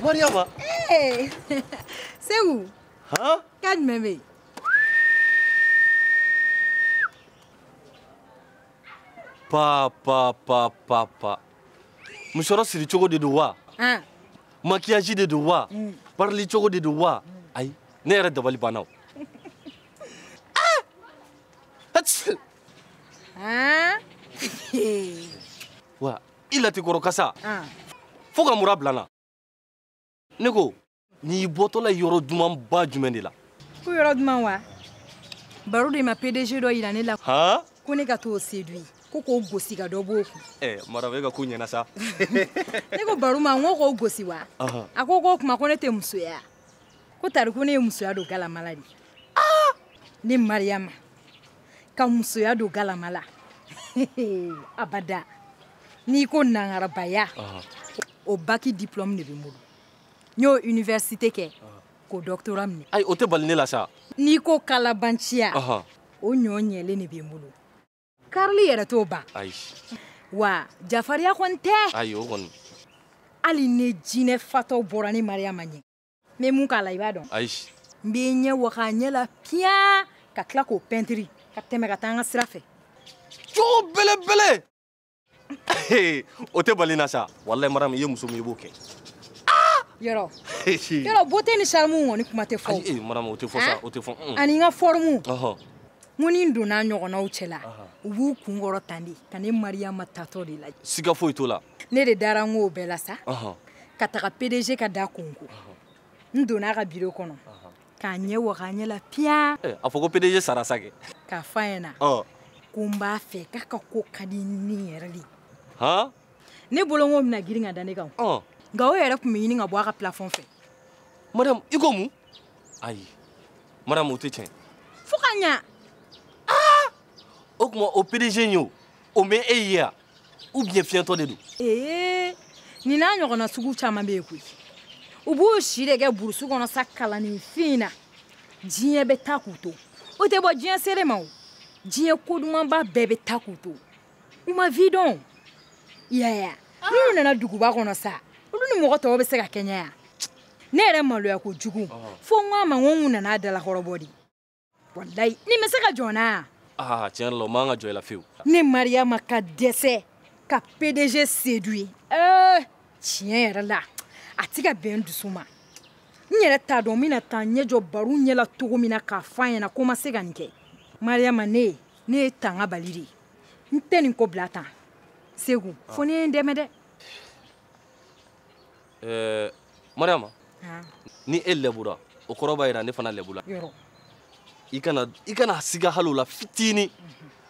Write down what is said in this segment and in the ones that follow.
Mariama ee Segu han k'a jumɛn bɛ yen pa pa pa pa pa musɔrɔ siri cogo de don wa han makiyaji de don wa parili cogo de don wa ayi ne yɛrɛ dabali banna o Ah! Ats! han wa i latikɔrɔ kasa ah. fo ka mura bila n na ne ko n'i bɔtɔla yɔrɔ dumanba jumɛn de la ko yɔrɔ duman wa baro de ma pdg dɔ yira ne la ko ne ka t'o séduire ko k'o gosi ka dɔ b'o kun eh, maramu e ka ko ɲɛna sa ne ko baro ma n ko k'o gosi wa a ko k'o kuma ko ne tɛ musoya ko tari ko ne ye musoya don galama la de ah! ne mariyama ka musoya don galama la abada n'i ko nangarabaya o baki diplôme de bɛ n bolo n y'o université kɛ k'o doctorat minɛ ayi o tɛ bali ne la sa n'i ko kalabanciya o ɲɔ ɲɛlen de bɛ n bolo karili yɛrɛ t'o ban ayi wa jafariya kɔni tɛ ayi o kɔni hali ni jinɛ fatɔ bɔra ne mariama ɲɛ n bɛ mun k'a la i b'a dɔn ayi n bɛ ɲɛ waga a ɲɛ la piyan ka tila k'o pɛntiri ka tɛmɛ ka taa n ka sira fɛ cogo belebele o tɛ bali n na sa walayi maramu i ye muso min i b'o kɛ yɔrɔ beauté ni charme kɔni kuma tɛ fɔ ayi maramu o tɛ fɔ sa o tɛ fɔ ani n ka forme n ko ni n donna ɲɔgɔnnaw cɛla u b'u kun kɔrɔta de ka ne mariama taatɔ de lajɛ siga foyi t'o la ne de dara n k'o bɛɛ la sa ka taga pdg ka da konko n donna a ka biro kɔnɔ ka ɲɛ waga a ɲɛ la piyan eh, a fɔ ko pdg sara sa kɛ k'a fɔ a ɲɛna ko n b'a fɛ k'a ka ko ka di ne yɛrɛ de ne bolo n k'o bɛna girin ka da ne kan nka o yɛrɛ tun bɛ ɲini ka bɔ a ka pilafɔn fɛ maramu i ko mun ayi maramu o tɛ tiɲɛ fo ka ɲa o tuma o pdg in ye o o ma e ye yan ou bien fiyɛntɔ de don ee nin n'a ɲɔgɔnna sugu caman bɛ yen koyi u b'u si de kɛ burusu kɔnɔ sa kalanninfin na diɲɛ bɛ taa k'u to u tɛ bɔ diɲɛ seere ma o diɲɛ kodumanba bɛɛ bɛ taa k'u to u ma vie dɔn i y'a ye ah. n'u nana duguba kɔnɔ sa olu ni mɔgɔ tɔw bɛ se ka kɛɲɛ yan ne yɛrɛ maloya kojugu ah. fo n ko a ma n ko n tun nana a dalakɔrɔbɔ de walayi nin bɛ se ka jɔ n na yan. aa tiɲɛ yɛrɛ la o man kan ka jɔ i la fiyewu. ne mariyama ka dɛsɛ ka pdg séduire ee eh, tiɲɛ yɛrɛ la a ti ka bɛn n dusu ma n yɛrɛ t'a dɔn n bɛna taa ɲɛ jɔ baro ɲɛ la cogo min na k'a fɔ a ɲɛna ko n ma se ka nin kɛ mariyama ne ye ne ye tanga bali de ye n tɛ nin ko bila tan segu fo n'i ye n dɛmɛ dɛ. ɛɛ mariama ni e lebura o kɔrɔ b'a jira ne fana lebula i kana i kana siga hali o la fitini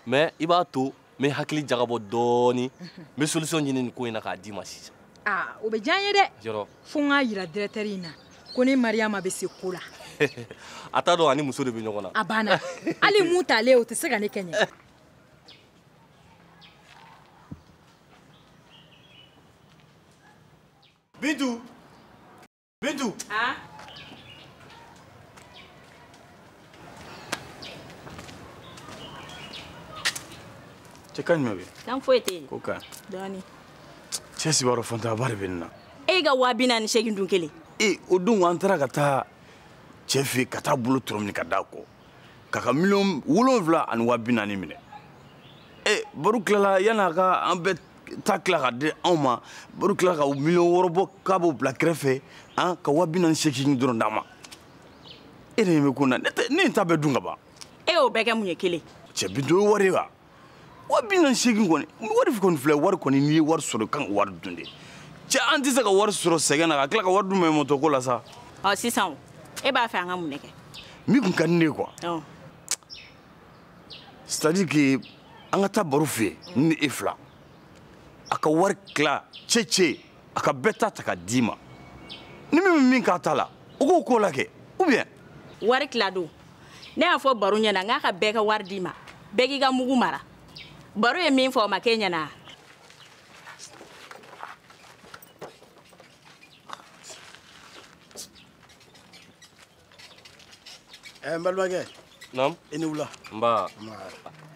mais i b'a to n bɛ hakili jagabɔ dɔɔni n bɛ solution ɲini nin ko in na k'a d'i ma sisan aa o bɛ diya n ye dɛ fo n k'a jira directeur in na ko ne mariyama bɛ se ko la a t'a dɔn a ni muso de bɛ ɲɔgɔn na a banna hali mun talen o tɛ se ka ne kɛɲɛ Bintu Bintu. Ah. cɛ ka ɲuman bɛ kan foyi tɛ yen ko kan dɔɔni cɛ si b'a dɔn fantanyaba de bɛ nin na e ka waa bi naani seegin dun kelen e o don an taara ka taa cɛ fɛ ka taa bolo tɔrɔ minɛ ka d'a kɔ k'a ka miliyɔn wolonwula ani waa bi naani minɛ e baro tilala yan'a ka an bɛɛ ta tila ka di anw ma baro tilala ka miliyɔn wɔɔrɔ bɔ k'a b'o bila kɛrɛfɛ an ka waa bi naani seegin dɔrɔn d'a ma e de bɛ ko na ne tɛ ne ye n ta bɛɛ dun ka ban. e y'o bɛɛ kɛ mun ye kelen. cɛ Bintu o ye wari ye wa waa bi naani seegin kɔni wari kɔni filɛ wari kɔni n'i ye wari sɔrɔ kan ka wari dun de cɛ an tɛ se ka wari sɔrɔ sɛgɛn na ka tila ka wari dun mɛ mɔtɔ ko la sa. ɔ sisan o e b'a fɛ an ka mun de kɛ. min tun ka di ne ye quoi. c'est à dire que an ka taa baro fɛ ne ni e fila a ka wari tila cɛcɛ a ka bɛɛ ta ta ka d'i ma ni min bɛ min k'a ta la o k'o k'o la kɛ ou bien. wari tila don ne y'a fɔ baro ɲɛna n k'a ka bɛɛ ka wari d'i ma bɛɛ k'i ka mugu mara baro ye min fɔ o ma k'e ɲɛna. ɛɛ n balimakɛ naam i ni wula nba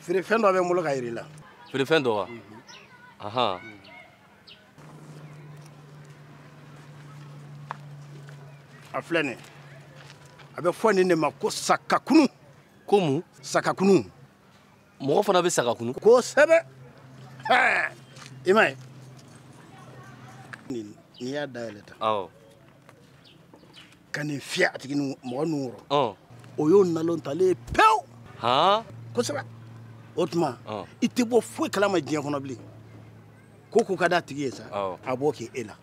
feerefɛn dɔ bɛ n bolo k'a yir'i la feerefɛn dɔ wa ahan a filɛ nin a bɛ fɔ nin de ma ko sakakunu ko mun sakakunu mɔgɔ fana bɛ saga kunu kosɛbɛ i m'a ye n'i y'a dayɛlɛ tan awɔ ka nin fiyɛ a tigi mɔgɔ nun kɔrɔ o y'o nalon talen ye pewu kosɛbɛ o tuma i tɛ bɔ foyi kalama diɲɛ kɔnɔ bilen ko ko ka d'a tigi ye sa a b'o kɛ e la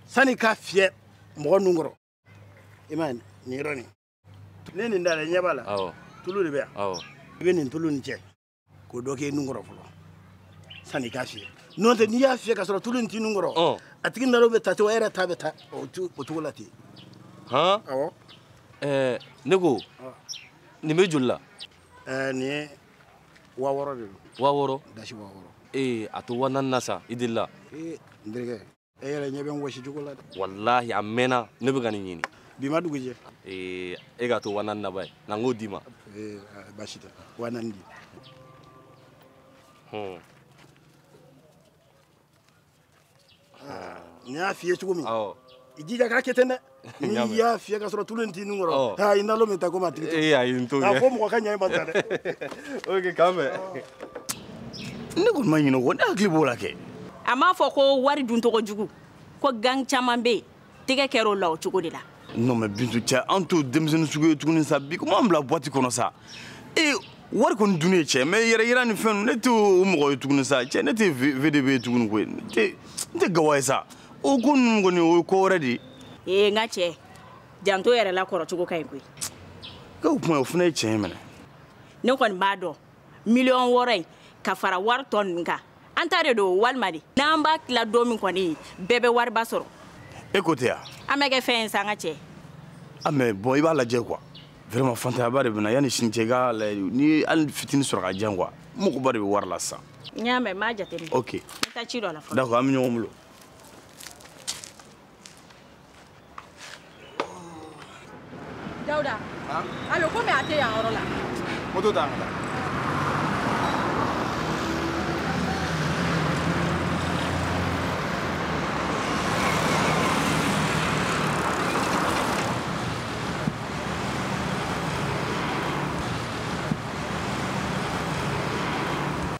sani k'a fiyɛ mɔgɔ nun kɔrɔ i ma nin yɔrɔ nin ne nin da la ɲɛ b'a la tulu de bɛ yan i bɛ nin tulu nin cɛ k'o dɔ k'i nun kɔrɔ fɔlɔ sanni i k'a fiyɛ n'o tɛ n'i y'a fiyɛ ka sɔrɔ tulu in t'i nun kɔrɔ a tigi nalo bɛ ta ten i yɛrɛ ta bɛ ta o cogo la ten han awɔ ɛɛ ne ko nin bɛ joli la ɛɛ nin ye wa wɔɔrɔ de don wa wɔɔrɔ dasi wa wɔɔrɔ ee a to wa naani na sa i delila ee n terikɛ e yɛrɛ ɲɛ bɛ n wɔsi cogo la dɛ walahi a mɛnna ne bɛ ka nin ɲini bi ma dugu jɛ ee e k'a to wa naani na ba ye na n k'o d'i ma ee basi tɛ wa naani di hmm. ne y'a f'i ye cogo min i jija k'a kɛ ten dɛ n'i y'a fiyɛ ka sɔrɔ tulu in t'i nun kɔrɔ aa i nalo bɛ ta komi a tigi ta ee ayi n t'o kɛ a fɔ mɔgɔ ka ɲɛ in ma ta dɛ ok k'an bɛn ne kɔni ma ɲinɛ o kɔ ne hakili b'o la kɛ a m'a fɔ ko wari dun tɔgɔ jugu ko gang caman bɛ yen tɛgɛ kɛra o la o cogo de la non mais bintu cɛ an t'o denmisɛnnin sugu ye tuguni sa bi komi an bila boite kɔnɔ sa ee wari kɔni dun ye cɛ mais yɛrɛ yira ni fɛn ne t'o mɔgɔ ye tuguni sa cɛ ne tɛ vdb ye tuguni koyi n tɛ gawa ye sa o ko ninnu kɔni o ye ko wɛrɛ de ye ee n ka cɛ janto yɛrɛ la kɔrɔcogo ka ɲi koyi k'o o kuma o fana ye tiɲɛ ye minɛ ne kɔni b'a dɔn miliyɔn wɔɔrɔ in ka fara wari tɔ ninnu kan an ta de don walima de n'an b'a tila don min kɔni bɛɛ bɛ wariba sɔrɔ e ko tɛ yan an bɛ kɛ fɛn ye sa an ka cɛ a mais bon i b'a lajɛ quoi vraiment fantayaba de bɛ n na yanni sini cɛ i k'a lajɛ ni hali fitini sɔrɔ ka di yan quoi magoba de bɛ wari la sisan n y'a mɛn n b'a jateminɛ ok n bɛ taa ci dɔ la fɔlɔ d'accord an bɛ ɲɔgɔn bolo Dawuda. Han. Alo komi a tɛ yan yɔrɔ la. Moto ta an ka taa.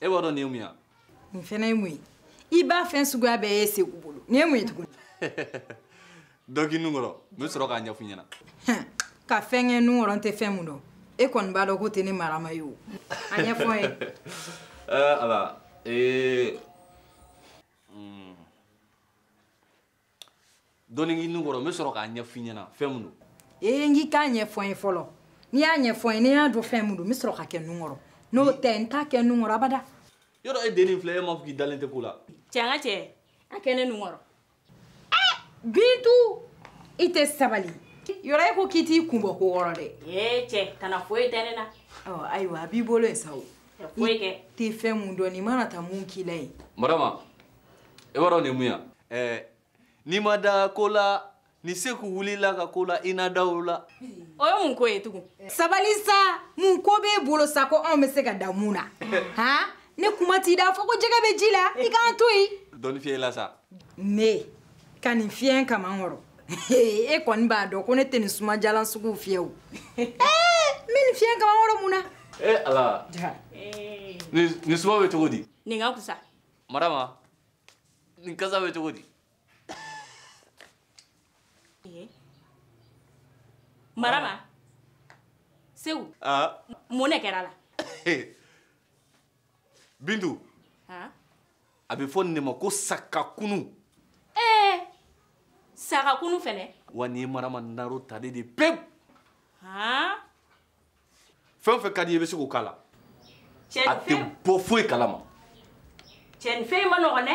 e b'a dɔn nin ye mun ye nin fɛnɛ ye mun ye i b'a fɛn suguya bɛɛ ye segu bolo nin ye mun ye tuguni dɔ k'i nun kɔrɔ n bɛ sɔrɔ k'a ɲɛf'i ɲɛna ka fɛn kɛ nun kɔrɔ n tɛ fɛn min dɔn e kɔni b'a dɔn ko tɛ ne marama ye o a ɲɛfɔ n ye ala ee dɔɔnin k'i nun kɔrɔ n bɛ sɔrɔ k'a ɲɛfɔ i ɲɛna fɛn min don. ee n k'i k'a ɲɛfɔ n ye fɔlɔ n'i y'a ɲɛfɔ n ye ni n y'a dɔn fɛn min don n bɛ sɔrɔ k'a kɛ n nun kɔrɔ n'o tɛ n t'a kɛ n nun kɔrɔ abada. yɔrɔ e dennin filɛ e m'a fɔ k'i dalen tɛ ko la. cɛ an ka cɛ a kɛ ne nun kɔrɔ. ee bintu i tɛ sabali yɔrɔ e ko k'i t'i kun bɔ ko wɔrɔ dɛ. ee cɛ kana foyi tɛ ne na. ɔ ayiwa a b'i bolo yen sa o. foyi kɛ. i tɛ fɛn min dɔn nin mana taa mun k'i la yen. marama i b'a dɔn nin mun ya ɛɛ n'i ma da ko la ni seku wulila ka ko la i na da o la o ye mun ko ye tugun sabali sa mun ko b'e bolo sa ko anw bɛ se ka da mun na han ne kuma t'i da fɔ ko jɛgɛ bɛ ji la i k'an to yen dɔɔnin fiyɛ i la sa ne ka nin fiyɛ n kaman kɔrɔ e kɔni b'a dɔn ko ne tɛ nin sumajalan suguw fiyɛ o ee n bɛ nin fiyɛ n kaman kɔrɔ mun na ee ala nin suma bɛ cogo di nin ka kusa marama nin kasa bɛ cogo di marama seku mun de kɛr'a la bintu a bɛ fɔ nin de ma ko sakakunu ee sakakunu fɛnɛ wa nin ye marama naro talen de pewu fɛn o fɛn ka di i ye i bɛ se k'o k'a la a tɛ bɔ foyi kalama cɛ nin fɛn man nɔgɔn dɛ